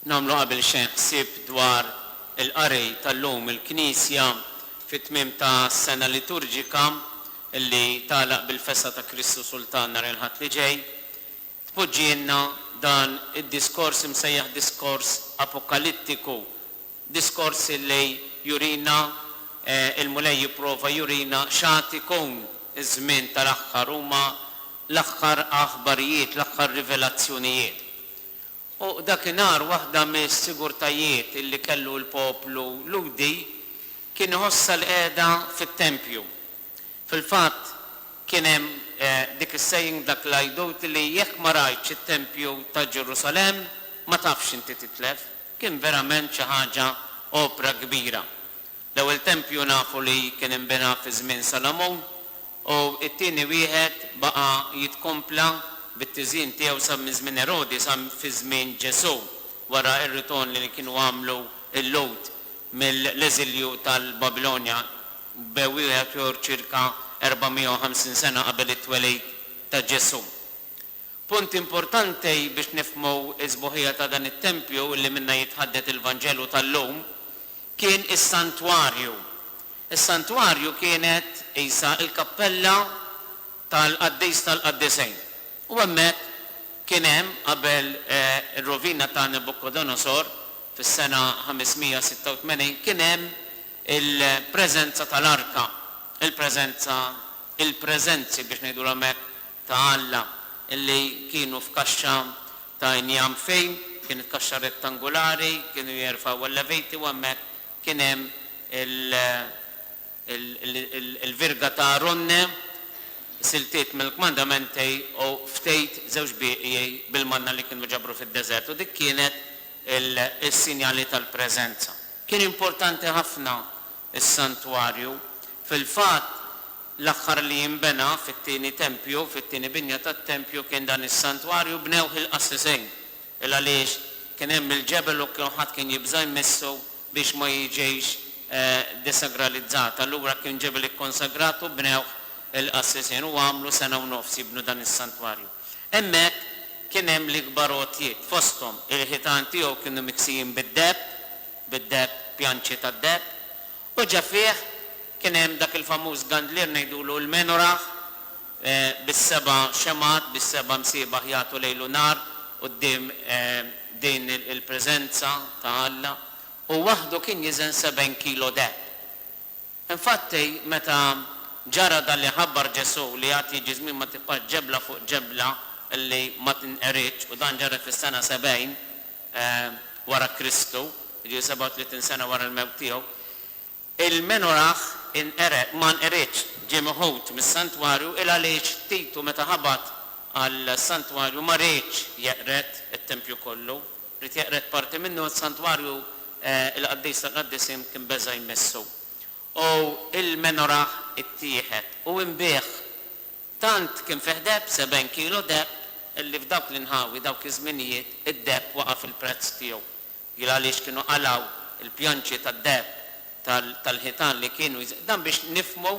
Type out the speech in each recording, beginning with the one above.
Nagħmlu qabel xejn ħsieb dwar il-qari tal-lum. Il-Knisja fit-tmiem ta' sena liturġika li tagħlaq bil-festa ta' Kristu Sultan nhar il-Ħadd li ġej, tpoġġielna dan id-diskors imsejjaħ diskors apokalittiku, diskors li jurina, il-Mulej jipprova jurina x'għad ikun iż-żmien tal-aħħar, huma l-aħħar aħbarijiet, l-aħħar rivelazzjonijiet. U dakinhar waħda mis-sigurtajiet li kellu l-poplu Lhudi kien iħossha li qiegħda fit-tempju. Fil-fatt kien hemm dik is-saying, dak l-għidut li jekk ma rajtx it-tempju ta' Ġerusalemm ma tafx inti titlef. Kien verament xi ħaġa opra kbira. L-ewwel tempju nafu li kien inbena fi żmien Salamun u t-tieni wieħed baqa' jitkompla bit-tiżjin tiegħu sa minn żmien Erodi sa fi żmien Ġesù wara r-ritorn li kienu għamlu l-Lhud mill-eżilju tal-Babilonja b'wieħed ċirka 450 sena qabel it-twelid ta' Ġesù. Punt importanti biex nifhmu s-sbuħija ta' dan it-tempju li minnha jitħaddet il-Vanġelu tal-lum kien is-santwarju. Is-santwarju kienet qisha l-kappella tal-qaddis tal-qaddisejn u hemmhekk kien hemm qabel ir-rovina ta' Nabukodonosor fis-sena 586 kien hemm il-preżenza tal-arka, il-preżenza, il-preżenzi biex ngħidulhom hekk, ta' Alla li kienu f'kaxxa ta' injam fejn, kienet kaxxa rettangulari, kienu jerfgħu l-Leviti u hemmhekk kien hemm il-virga ta' Aronne, siltiet mill-kmandamenti u ftejt żewġ bieqji bil-manna li kienu ġabru fid-deżert u dik kienet il-sinjali tal-preżenza. Kien importanti ħafna s-santwarju. Fil-fatt, l-aħħar li inbena fit-tieni tempju, fit-tieni binja tat-tempju kien dan is-santwarju, bnewh il-qassisin. Il-għaliex kien hemm il-ġebel u kulħadd kien jibża' jmissu biex ma jiġix desagralizzat. Allura kien ġebel ikkonsagrat u bnewh il-qassisin u għamlu sena u nofs jibnu dan is-santwarju. Hemmhekk kien hemm l-ikbar għotjiet, fosthom il-ħitan tiegħu kienu miksijin bid-deheb, bid-deheb, pjanċi tad-deheb, u ġa fih kien hemm dak il-famuż gandlier ngħidulu l-menorah bis-seba' xemgħat biex seba' msiebaħ jagħtu lejl u nhar quddiem din il-preżenza ta' Alla. Hu waħdu kien jiżen sebgħin kilo deheb. Infatti, meta ġara dan li ħabbar Ġesù li għad jiġi żmien ma tibqax ġebla fuq ġebla li ma tinqeridx, u dan ġara fis-sena 70 wara Kristu, jiġifieri 37 sena wara l-mewt tiegħu, il-Menorah inqered, ma nqeridx, ġie meħud mis-santwarju, il-għaliex Titu meta ħabat għas-santwarju ma riedx jeqred it-tempju kollu? Ried jeqred parti minnu, is-santwarju, il-qaddis tal-qaddisin kien beża' jmissu. U l-menorah ittieħed u nbigħ. Tant kien fih deheb, sebgħin kilo deheb, li f'dawk l-inħawi, dawk iż-żminijiet, id-deheb waqa' fil-prezz tiegħu. Hi għaliex kienu qalgħu l-pjanċi tad-deheb tal-ħitan li kienu jżidu. Dan biex nifhmu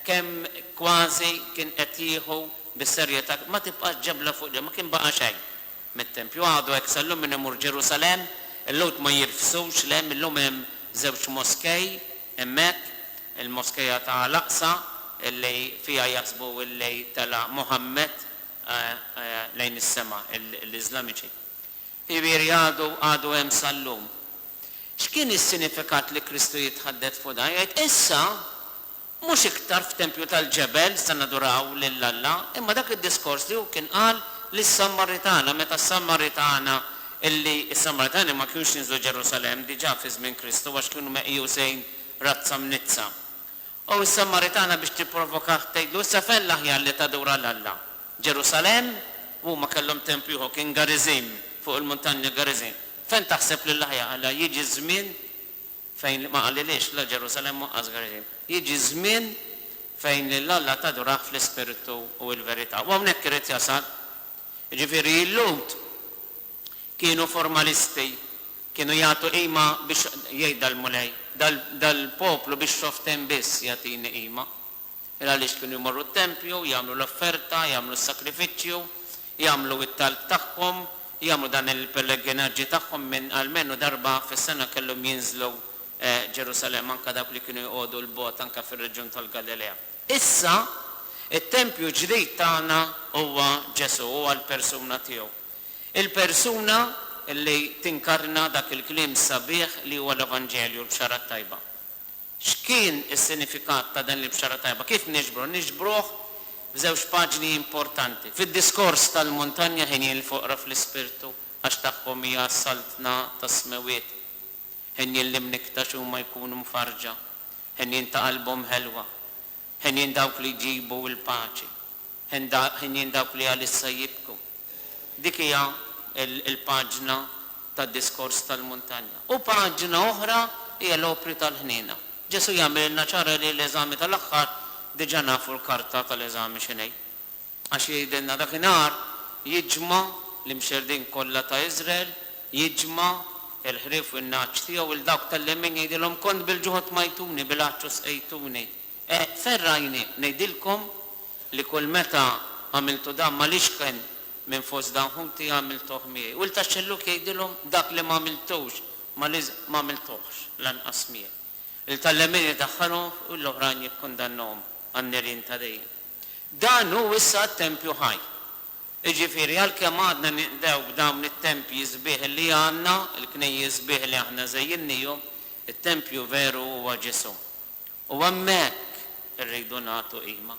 kemm kważi kien qed jieħu bis-serjetà. Ma tibqax ġebla fuq ġebla, ma kien baqa' xejn. mit-tempju. Għadu hekk sal-lum minn imur Ġerusalemm, il-Lhud ma jirfsux, le, mil-lum hemm żewġ moskej hemmhekk, il-moskeja ta' Al-Aqsa illi fiha jaħsbu illi tela' Muhammad lejn is-sema, l-Iżlamiċi. Jiġifieri għadu, għadu hemm sal-lum. X'kien is-sinifikat li Kristu jitħaddet fuq dan? Jgħid, Issa, Mhux iktar f'tempju tal-ġebel se naduraw lil Alla, imma dak id-diskors li hu kien qal lis-Sammaritana, meta s-Sammaritana, li s-Sammaritani ma kinux jinżlu Ġerusalemm diġà fi żmien Kristu għax kienu meqjusin razza mniddsa. U s-Sammaritana biex tipprovokah tgħidlu, Issa fejn l-aħjar li tadura 'l Alla? Ġerusalemm? U huma kellhom tempju ieħor, kien Gariżim, fuq il-muntanja Gariżim. Fejn taħseb li l-aħjar? Qalilha, Jiġi ż-żmien, fejn li ma qalilhiex la Ġerusalemm u anqas Gerizim, jiġi żmien fejn lil Alla tadurah fl-ispirtu u l-verità. U hawnhekk irid jasal. Jiġifieri il-Lhud kienu formalisti, kienu jagħtu qima biex, jgħid dal-Mulej, dal-poplu biex xoften biss jagħtini qima. Il għaliex kienu jmorru t-tempju, jagħmlu l-offerta, jagħmlu s-sagrifiċċju, jagħmlu it-talb tagħhom, jagħmlu dan il-pellegrinaġġi tagħhom minn almenu darba fis-sena kellhom jinżlu Ġerusalemm, anke dawk li kienu jqogħdu 'l bogħod anke fir-reġjun tal-Galilea. Issa, it-tempju l-ġdid tagħna huwa Ġesù, huwa l-persuna tiegħu. Il-persuna li tinkarna dak il-kliem sabiħ li huwa l-Evanġelju, l-Bxara t-Tajba. X'kien is-sinifikat ta' din l-Ibxara Tajba? Kif niġbru? Niġbruh f'żewġ paġni importanti. Fid-diskors tal-muntanja ħenji lill-foqra fl-ispirtu, għax tagħhom hija s-saltna tas-smewwiet. Ħenjin l-imniekt għax huma jkunu mfarrġa. Ħenjin ta' qalbhom ħelwa. Ħenjin dawk li jġibu l-paċi. Henjin dawk li għalissa jibku. Dik hija l-paġna tad-diskors tal-muntanja. U paġna oħra hija l-opri tal-ħniena. Ġesù jagħmililna ċara li l-eżami tal-aħħar diġà nafu l-karta tal-eżami x'inhi. Għax jgħidilna dakinhar jiġma' l-imxerrdin kollha ta' Iżrael, jiġma' l-ħrief u n-nagħaġ tiegħu, 'il dawk tal-lemin jgħidilhom, 'Kont bil-ġuħ u tmajtuni, bil-għatx u sqejtuni, E ferrajni ngħidilkom li kull meta għamiltu dan ma' l-ixken minn fost dan ħuti għamiltuh miegħi. U l-taxxellug jgħidilhom dak li m'għamiltux ma' l-, m'għamiltuhx lanqas miegħi. Il-tallemin idaħħalhom f' u l-oħrajn jikkundannahom għan-nirien ta' dejjem. Dan hu issa t-tempju ħaj. Jiġifieri għalkemm għadna ninqdew b'dawn it-tempji sbieħ li għandna, il-knejjes sbieħ li aħna żejjinniehom, it-tempju veru huwa ġism. U hemmhekk irridu nagħtu qima.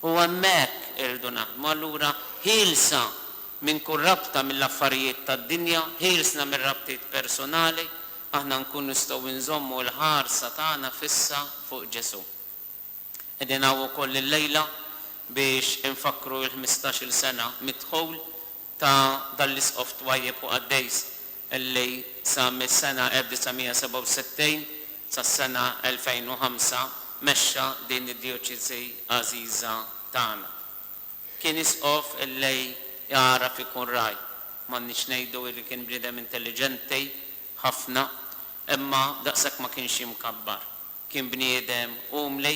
U hemmhekk irridu naħdmu. Allura, ħielsa minn kull rabta mill-affarijiet tad-dinja, ħielsna mir-rabtiet persunali, aħna nkunu nistgħu nżommu l-ħarsa tagħna fissa fuq Ġesù. Qegħdin hawn ukoll illejla biex infakkru l-ħmistax-il sena mid-dħul ta' dan l-Isqof twajjeb u qaddejs li sa mis-sena 1967 sas-sena 2005 mexxa din id-djoċesi għażiża tagħna. Kien Isqof li jagħraf ikun ragħaj. M'għandniex ngħidu li kien bniedem intelliġenti ħafna, imma daqshekk ma kienx imkabbar. Kien bniedem umli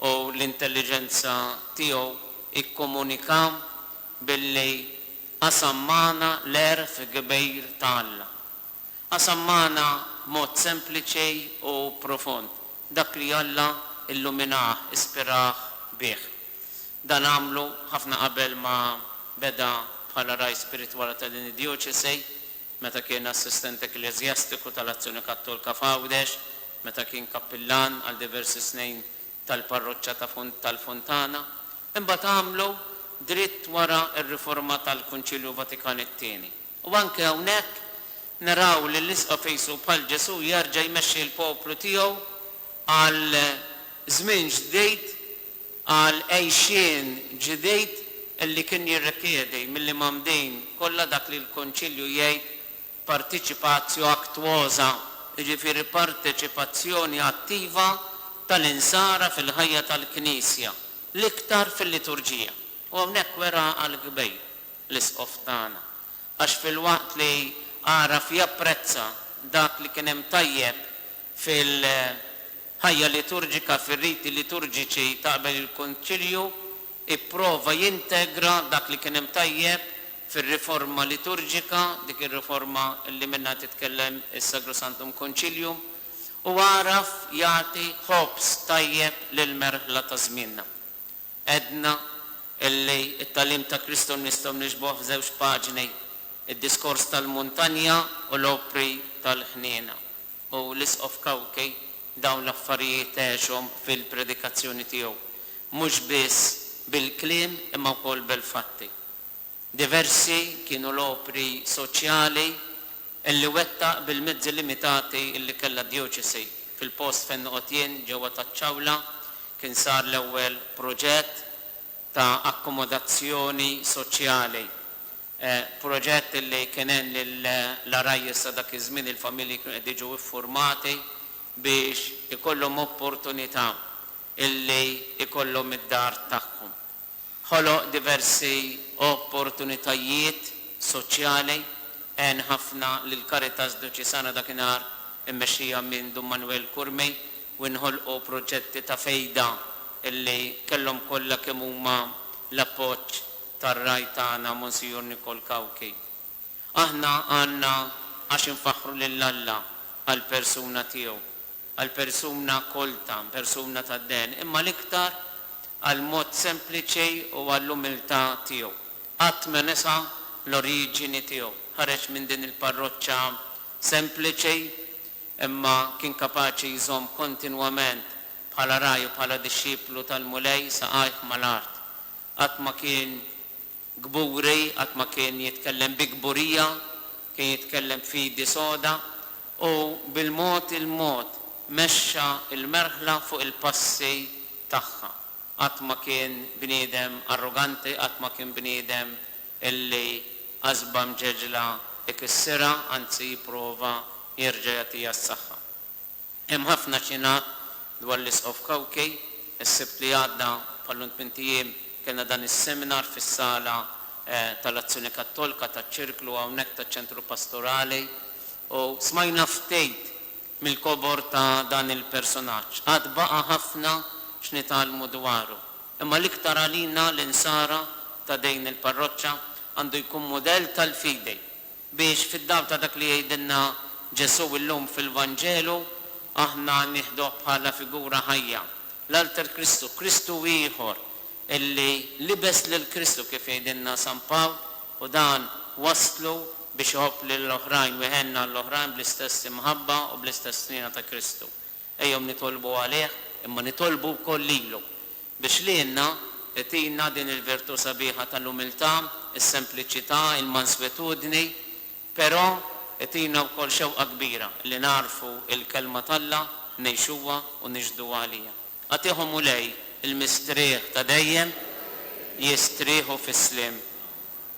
u l-intelliġenza tiegħu kkomunika billi qasam magħna l-għerf kbir ta' Alla. Qasam magħna b'mod sempliċi u profond dak li Alla illuminah, ispirah bih. Dan għamlu ħafna qabel ma beda bħala Ragħaj Spiritwali ta' din id-djoċesi. meta kien assistent ekkleżjastiku tal-Azzjoni Kattolka f'Għawdex, meta kien kappillan għal diversi snin tal-parroċċa ta' tal-Fontana. Imbagħad għamlu dritt wara r-riforma tal-Kunċilju Vatikan it-Tieni. U anke hawnhekk naraw lill-Isqof qisu bħal Ġesù jerġa' jmexxi l-poplu tiegħu għal żmien ġdid għal għixien ġdid li kien jirrikjedi mill-Imgħammdin kollha dak li l-Konċilju jgħid participatio actuosa, jiġifieri parteċipazzjoni attiva tal-Insara fil-ħajja tal-Knisja, l-iktar fil-Liturġija. U hawnhekk wera għall-kbir l-Isqof tagħna, għax filwaqt li għaraf japprezza dak li kien hemm tajjeb fil. Ħajja Liturġika Fir-riti liturġiċi ta' qabel il-Konċilju ipprova jintegra dak li kien hemm tajjeb fir-riforma liturġika, dik ir-riforma li minnha qed jitkellem is-Sacrosanctum Concilium, u għaraf jagħti ħobż tajjeb lill-merħla ta' żmienna. Għedna li t-tagħlim ta' Kristu nistgħu niġbduh f'żewġ paġni, id-Diskors tal-Muntanja u l-Opri tal-Ħniena. U l-Isqof Cauchi dawn l-affarijiet għexhom fil-predikazzjoni tiegħu, mhux biss bil-kliem imma wkoll bil-fatti. Diversi kienu l-opri soċjali li wettaq bil-mezzi limitati li kellha d-djoċesi. Fil-post fejn noqgħod jien, ġewwa taċ-Ċawla, kien sar l-ewwel proġett ta' akkomodazzjoni soċjali Proġett li kien għen lill-għarajjes ta' dak iż-żmien, il-familji kienu qed jiġu iffurmati biex ikollhom opportunità illi jkollhom id-dar tagħhom. Ħoloq diversi opportunitajiet soċjali, għen ħafna lill-Caritas Djoċesana dakinhar immexxija minn Dun Manwel Curmi u inħolqu proġetti ta' fejda illi kellhom kollha kemm huma l-appoġġ tar-Ragħaj tagħna Monsignor Nicole Cauchi. Aħna għandna għax infaħħru lil Alla għall-persuna tiegħu, għall-persuna kolta, persuna tad-dehen, imma l-iktar għall-mod sempliċi u għall-umiltà tiegħu. Qatt ma nesa l-oriġini tiegħu. Ħareġ minn din il-parroċċa sempliċi, imma kien kapaċi jżomm kontinwament bħala ragħaj u bħala dixxiplu tal-Mulej saqajh mal-art. Qatt ma kien kburi, qatt ma kien jitkellem bi kburija, kien jitkellem b'fidi soda u bil-mod il-mod mexxa l-merħla fuq il-passi tagħha. Qatt ma kien bniedem arroganti, qatt ma kien bniedem illi għasba mġeġla ikissirha, anzi jipprova jerġa' jagħtiha s-saħħa. Hemm ħafna x'jingħad dwar l-Isqof Cauchi. Is-Sibt li għadda, bħal int minn tiem, kellna dan is-seminar fis-sala tal-Azzjoni Kattolka taċ-Ċirklu hawnhekk taċ-Ċentru Pastorali u smajna ftit mill-kobor ta' dan il-persunaġġ. Għad baqa' ħafna x'nitgħallmu dwaru. Imma l-iktar għalina l-Insara ta' dejn il-parroċċa għandu jkun mudell tal-fidi Biex, fid-dawl ta' dak li jgħidilna Ġesù llum fil-Vanġelu, aħna nieħduh bħala figura ħajja, l-alter Kristu, Kristu ieħor li libes lil Kristu, kif jgħidilna San Pawl, u dan wasslu biex iħobb lill-oħrajn u jħenn għall-oħrajn bl-istess imħabba u bl-istess ħniena ta' Kristu. Ejjew nitolbu għalih, imma nitolbu wkoll lilu biex lilna itina din il-virtù sabiħa tal-umiltà, is-sempliċità, il-manswitudni, però itina wkoll xewqa kbira li nagħrfu l-Kelma t'Alla, ngħixuha u nixhdu għaliha. Agħtih, O Mulej, il-mistrieħ ta' dejjem, jistrieħu fis-sliem.